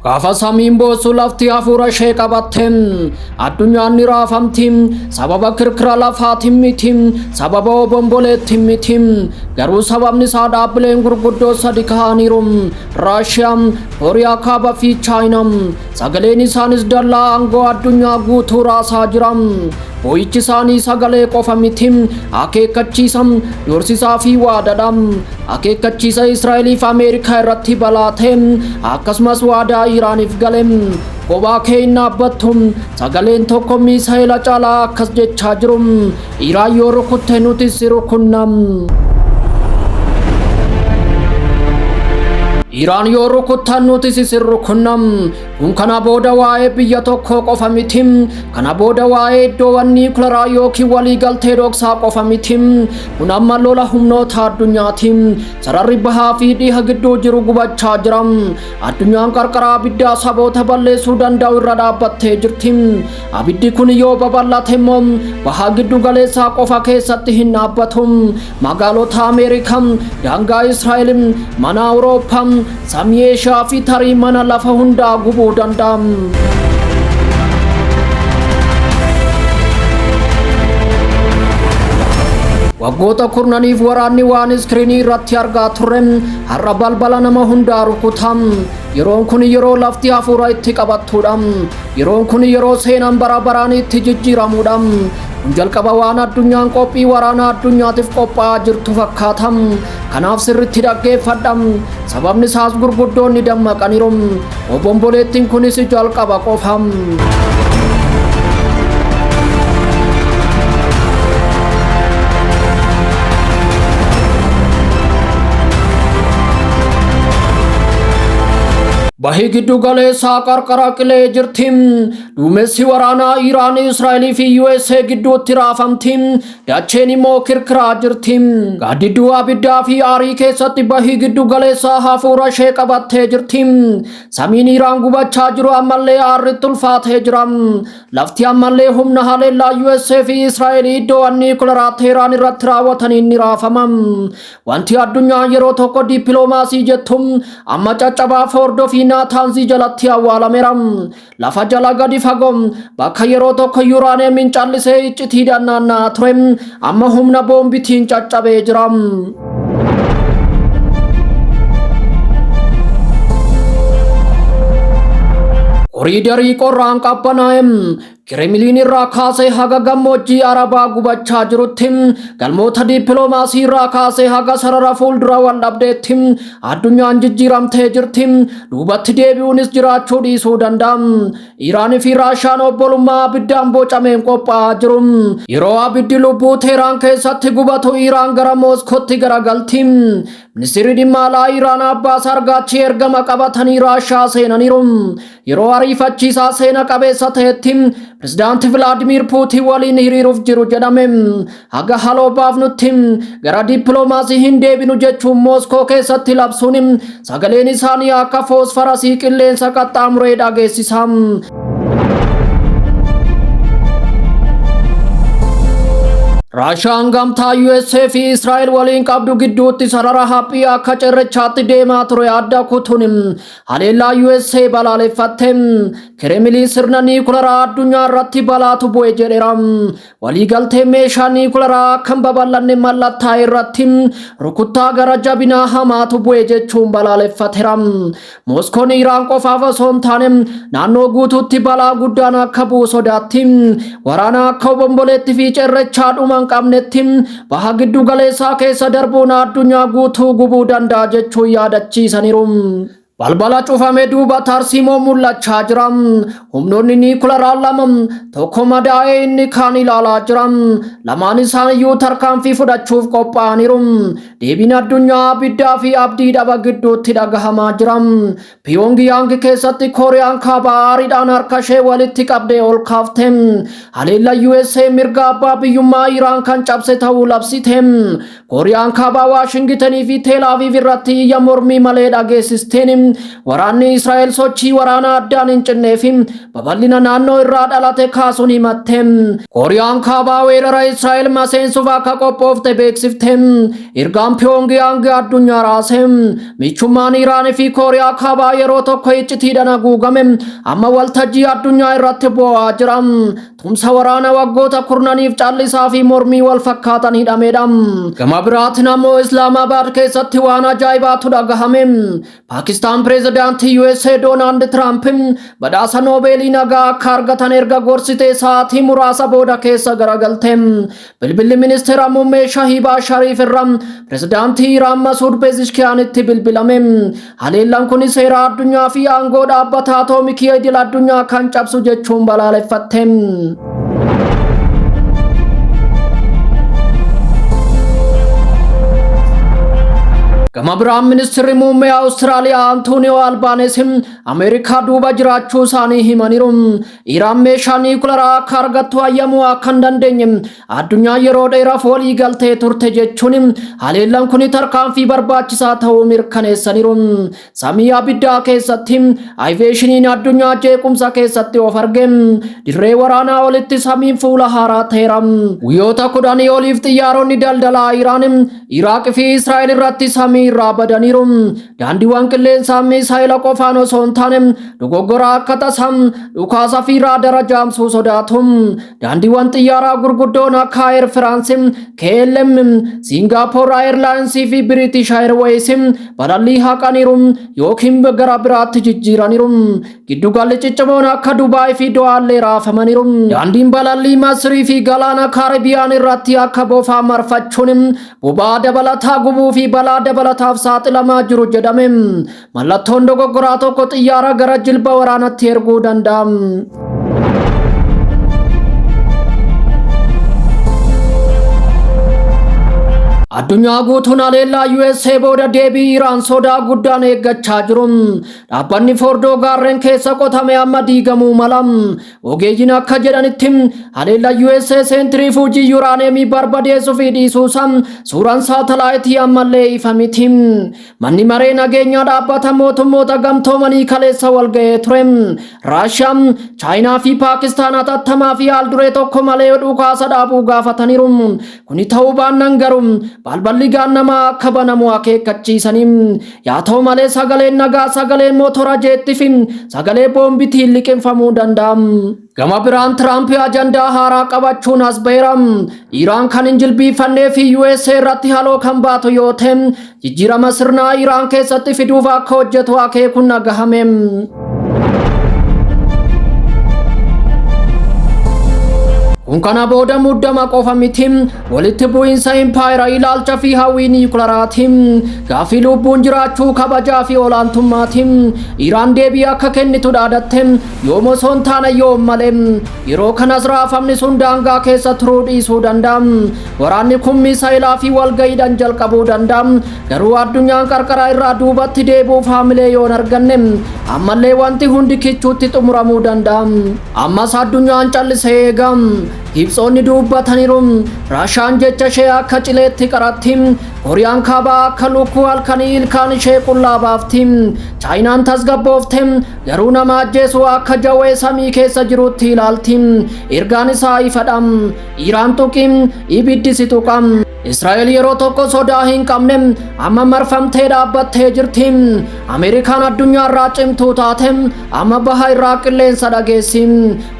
Gaafa samiin boosuu lafti hafuura ishee qabatte addunyaan ni raafamti sababa kirkira lafaatiin miti sababa obomboleettiin miti garuu sababni isaa dhaabbileen gurguddoo sadi ka'aniiru Raashiyaa, Kooriyaa Kaabaa fi Chaayinaa Sagaleen isaanis dallaa aangoo addunyaa guutuu raasaa jira. Boo'ichi isaanii sagalee qofa miti. Akeekkachiisa, dorsisaa fi waadadha. Akeekkachiisa Israa'eliif Ameerikaa irratti balaa ta'e akkasumas waadaa Iraaniif gale. Kophaa kee hin dhaabbattu. Sagaleen tokko miisa'ela caalaa akkas jechaa jiru. Iiraan yoo rukutte nuti si rukunna. Iiraan yoo rukuttan nuti si rukunna. Kun kana booda waa'ee biyya tokkoo qofa miti. Kana booda waa'ee iddoowwan niikularaa yookiin waliigaltee dhoksaa qofa miti. Kun amma lola humnoota addunyaati. Sararri bahaa fi dhiha gidduu jiru gubachaa jira. Addunyaan qarqara abiddaa saboota balleessuu danda'u irra dhaabbattee jirti. Abiddi kun yoo babal'ate immoo baha giddu galeessaa qofa keessatti hin dhaabbatu. Magaalota Ameerikaa, daangaa Israa'el, mana Awurooppaa, samii Eeshiyaa fi tarii mana lafa hundaa gubuu danda'a. Waggoota kurnaniif waraanni waan iskiriinii irratti argaa turre har'a balbala nama hundaa rukuta. Yeroon kun yeroo lafti hafuura itti qabattudha. Yeroon kun yeroo seenaan bara baraan itti jijjiiramuudha. Kun jalqaba waan addunyaan qophii waraanaa addunyaatiif qophaa'aa jirtu fakkaata. Kanaaf sirriitti dhaggeeffadha. Sababni isaas gurguddoonni dammaqaniiru. Obomboleettiin kunis jalqaba qofa. Bahii giddu galeessaa qarqara qilee jirti. Duumessi waraanaa Iraan, Israa'elii fi USA gidduutti raafamti. Dacheen immoo kirkiraa jirti. Gaaddidduu abiddaa fi aarii keessatti bahii giddu galeessaa hafuura ishee qabattee jirti. Samiin Iraan gubachaa jiru ammallee aarritti ulfaatee jira. Lafti ammallee humna haleellaa USA fi Israa'elii iddoowwan niikularaa Teeraan irratti raawwataniin ni raafama. Wanti addunyaa yeroo tokko dippiloomaasii jettu amma caccabaa foordoo fi naataanzii jalatti awwaalameera. Lafa jala gadi fagoo bakka yeroo tokko yuuraaniyeemiin callisee iccitii dannaannaa ture amma humna boombitiin caccabee jira. Koriidarii qorraan qabbanaa'e Kiremiliin irraa kaasee haga gammoojjii Arabaa gubachaa jirutti, galmoota diippiloomaasii irraa kaasee haga sarara fuuldura wal dhabdeetti addunyaan jijjiiramtee jirti. Duubatti deebi'uunis jiraachuu dhiisuu danda'a. Iraan fi Raashaan obbolummaa abiddaan bocameen qophaa'aa jiru. Yeroo abiddi lubbuu Teeraan keessatti gubatu Iraan gara Mooskootti garagalti. Ministirri dhimma alaa Iraan Abbaas Argaachi ergama qabatanii Raashaa seenaniiru. Yeroo ariifachiisaa seena qabeessa ta'etti pirezidaanti Vilaadimiir Puutiin waliin hiriiruuf jiru jedhame. Haga haloo baafnutti gara dippiloomaasii hin deebinu jechuun Mooskoo keessatti labsuun sagaleen isaanii akka foosfarasii qilleensa qaxxaamuree dhageessisa. Raashaan gamtaa USA fi Israa'el waliin qabdu gidduutti sarara haphii akka cirrachaatti deemaa ture adda kutuun Haleellaa USA balaaleffatte Kiremiliin sirna niikularaa addunyaa irratti balaatu bu'e jedheera. Waliigaltee meeshaa niikularaa akka hin babal'anne mallattaa'e irratti rukuttaa gara jabinaa hamaatu bu'e jechuun balaaleffateera. Mooskoon Iraan qofaaf osoo hin taane naannoo guutuutti balaa guddaan akka bu'u sodaatti. Waraana akka obomboleetti fi cirrachaa dhuma hin qabnetti baha giddu galeessaa keessa darbuun addunyaa guutuu gubuu danda'a jechuun yaadachiisaniiru. Balbala cufame duuba tarsiimoo mul'achaa jira. Humnoonni niikularaa lama tokko madaa'ee inni kaan ilaalaa jira. Lamaan isaaniyyuu tarkaanfii fudhachuuf qophaa'aniiru. Deebiin addunyaa abiddaa fi abdii dhaba gidduutti dhagahamaa jira. Piyoongiyaang keessatti Kooriyaan Kaabaa aariidhaan harkashee walitti qabdee ol kaafte. Haleella USA mirga abbaa biyyummaa Iraan kan cabse ta'uu labsite. Kooriyaan Kaabaa Waashingitanii fi Teel Aviiv irratti iyya mormii malee dhageessisteen waraanni Israa'el sochii waraanaa addaan hin cinnee fi babal'ina naannoo irraa dhalate kaasuun himatte. Kooriyaan Kaabaa weerara Israa'el maseensuuf akka qophoofte beeksifte. Ergaan Piyoongiyaang addunyaa raase. Michummaan Iraan fi Kooriyaa Kaabaa yeroo tokko iccitiidhaan haguugame amma waltajjii addunyaa irratti bu'aa jira. Tumsa waraana waggoota kurnaniif callisaa fi mormii wal fakkaatan hidhamedha. Gama biraatiin ammoo Islaamaabaad keessatti waan ajaa'ibaatu dhagahame. Paakistaan pireezidaantii USA Doonaald Tiraamp badhaasa Noobeelii nagaa akka argatan erga gorsitee sa'aatii muraasa booda keessa garagalte. Bilbilli ministeera muummee Shahiibaa Shariif irraa pirezidaantii Iraan Masuud Pezeshkiyaanitti bilbilame. Haleellaan kun seera addunyaa fi aangoo dhaabbata atoomikii idil addunyaa kan cabsu jechuun balaaleffatte. Gama biraan ministeerri muummee Awustiraaliyaa Antooniyoo Albaanees Ameerikaa duuba jiraachuu isaanii himaniiru. Iraan meeshaa niikularaa akka argattu hayyamuu akka hin dandeenye addunyaa yeroo dheeraaf walii galtee turte jechuun haleellaan kun tarkaanfii barbaachisaa ta'uu mirkaneessaniiru. Samii abiddaa keessatti ayiveeshiniin addunyaa jeequmsa keessatti of arge. Dirree waraanaa olitti samiin fuula haaraa ta'eera. Guyyoota kudhanii oliif xiyyaaronni daldalaa Iraan, Iraaq fi Israa'el irratti samii irraa badaniiru. daandiiwwan qilleensaa miisaayila qofaan osoo hin taane dogoggora akka tasaa dhukaasa fi raadara jaamsuu sodaatu daandiiwwan xiyyaaraa gurguddoon akka ayer firaansi KLM Singapore Airlines fi British Airways balallii haqaniiru yookiin gara biraatti jijjiiraniiru giddugalli ciccimoon akka Dubaay fi Do'aallee raafamaniiru daandiin balallii Masrii fi galaana Kaaribiyaan irratti akka bofaa marfachuun boba'aa dabalataa gubuu fi balaa dabalataaf saaxilamaa jiru jedhame mallattoon dogoggoraa tokko xiyyaara gara jilba waraanatti erguu danda'a. addunyaa guutuun haleellaa USA booda deebii Iraan sodaa guddaan eeggachaa jiru. Dhaabbanni Fordoo gaarreen keessa qotame amma diigamuu mala. Ogeeyyiin akka jedhanitti haleellaa USA seentirii fuujii yuuraaneemii barbadeessuu fi dhiisuusaa suuraan saatalaayitii ammallee ifa miti. Manni maree nageenyaa dhaabbata mootummoota gamtoomanii kaleessa walga'ee ture. Raashiyaa, Chaayinaa fi Paakistaan hatattamaa fi haalduree tokko malee dhukaasa dhaabuu gaafataniiru. Kuni ta'uu baannaan garuu balballi gaannamaa akka banamu akeekkachiisanii Yaa ta'u malee sagaleen nagaa sagalee mootora jeettii fi sagalee boombitiin liqimfamuu danda'a. Gama biraan Tiraamp ajandaa haaraa qabachuun as ba'eera. Iraan kan hin jilbiifannee fi USA irratti haloo kan baatu yoo ta'e jijjiirama sirnaa Iraan keessatti fiduuf akka hojjetu akeekuun dhagahame. Kun kana booda muddama qofa miti. Walitti bu'iinsa impaayera ilaalcha fi hawwii niikularaatiin gaaffii lubbuun jiraachuu kabajaa fi olaantummaatiin Iraan deebii akka kennitu dhaadatte yoom osoo hin taane yoom malee yeroo kanas raafamni sun daangaa keessa turuu dhiisuu danda'a. Waraanni kun misaa'elaa fi walga'iidhaan jalqabuu danda'a. Garuu addunyaan qarqara irraa duubatti deebi'uuf haamilee yoon arganne ammallee wanti hundi kichuutti xumuramuu danda'a. Ammas addunyaan callisee eega. Ibsoonni dubbataniiru. Raashaan jecha ishee akka cileetti qaratti. Kooriyaan kaabaa akka lukkuu halkanii ilkaan ishee qullaa baafti. Chaayinaan tasgabboofte garuu nama ajjeesu akka jawwee samii keessa jirutti ilaalti. Ergaan isaa ifadha. Iiraan tuqi, ibiddi si tuqa. Israa'el yeroo tokko sodaa hin qabne amma marfamtee dhaabbattee jirti. Ameerikaan addunyaarraa cimtuu taate amma baha irraa qilleensa dhageessi.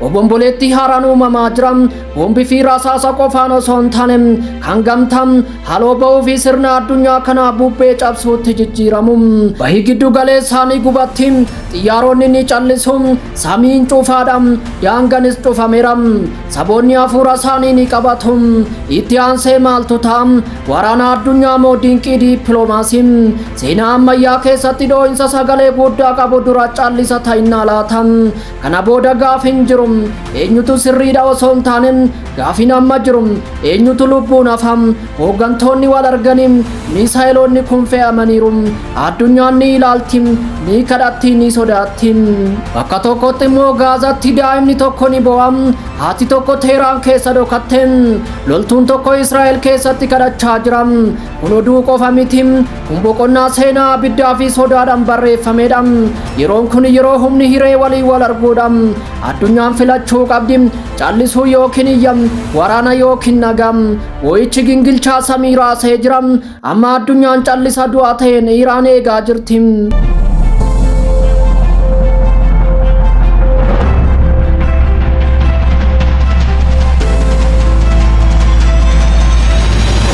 Obomboleettii haaraan uumamaa jira. Boombi fi rasaasa qofaan osoo hin taane kan gamtaa haloo bahuu fi sirna addunyaa kanaa bubbee cabsuutti jijjiiramu. Bahii giddu galeessaa ni gubatti. Xiyyaaronni ni callisu. Samiin cufaadha. Daanganis cufameera. Saboonni hafuura isaanii ni qabatu. Itti aansee maaltu ta'a? Waraana addunyaa moo dinqii diippiloomaasii? Seenaa ammayyaa keessatti dhoo'insa sagalee guddaa qabu dura callisa ta'innaa laata? Kana booda gaafi hin jiru. Eenyutu sirriidha osoo hin taane gaafiin amma jiru. Eenyutu lubbuun hafa. Hooggantoonni wal arganii miisaayeloonni kun fe'amaniiru. Addunyaan ni ilaalti, ni kadhatti, ni sodaatti. Bakka tokkotti immoo Gaazatti daa'imni tokko ni boo'a. Haati tokko Teeraan keessa dhokatte. Loltuun tokko Israa'el keessatti kadhachaa jira. Kun oduu qofa miti. Kun boqonnaa seenaa abiddaa fi sodaadhaan barreeffamedha. Yeroon kun yeroo humni hiree walii wal arguudha. Addunyaan filachuu qabdi. Callisuu yookiin iyya. Waraana yookiin nagaa. Boo'ichi gingilchaa samii raasee jira. Amma addunyaan callisa du'a ta'een Iraan eegaa jirti.